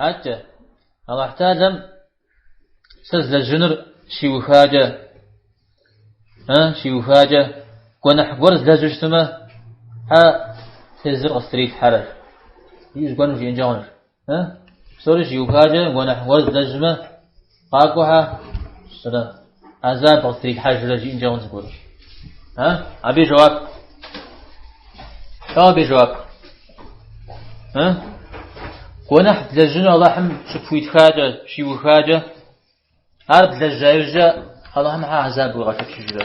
Атӏэ, Алыхь Тхьэлэм сэ злэжьынур щиухакӏэ, э, щиухакӏэ, гуэныхь гуэр злэжьу щытмэ, хьэ тезыр къыстрилъхьэрэ. Иужь гуэрым жиӏэнкӏэ хъунущ. Э? Псори щиухакӏэ, гуэныхь гуэр злэжьмэ, Къакӏуэ, хьэ сэрэ азаб къыстрилъхьэжрэ жиӏэнкӏэ хъун зыгуэрым. А? Абы и жэуап. Тӏэу абы и жэуап. А? Гуэныхь блэжьыну Аллахьым щыпхуитхакӏэ, щиухакӏэ, ар блэжьа иужькӏэ Аллахьым хьэ азаб уигъэшэчыжрэ?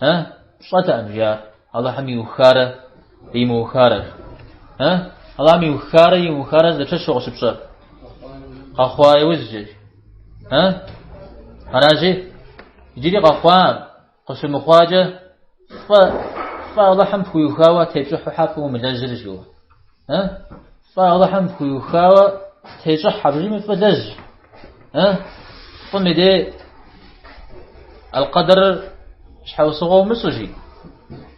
Э, пщӏэтэкъым, жаӏэ, Алыхьым иухарэ имыухарэр. Э, Алыхьым иухарэ имыухарэр дапщэщу къыщыпщӏэр? Къэхъуа иужькӏэ. Э, аражи, иджыри къэхъуа, къыщымыхъуакӏэ, фӏэ, фӏэ Алыхьым пхуиухауэ тепщӏыхьу хьэ фӏы умылэжьрэ, жиӏэу. Э? Фӏы Аллахьым пхуиухауэ тещӏыхь аби фӏы лэжь. Э? Фӏым и дей алкъэдэрыр щхьэусыгъуэ умыщӏ жи.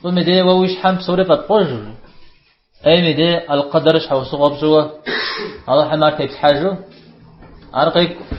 Фӏым и дей уэ уи щхьэм псори фӏэпкъуэжу. Ем и дей алкъэдэрыр щхьэусыгъуэ пщӏыуэ Аллахьым ар теплъхьэжу ар къекӏурэ.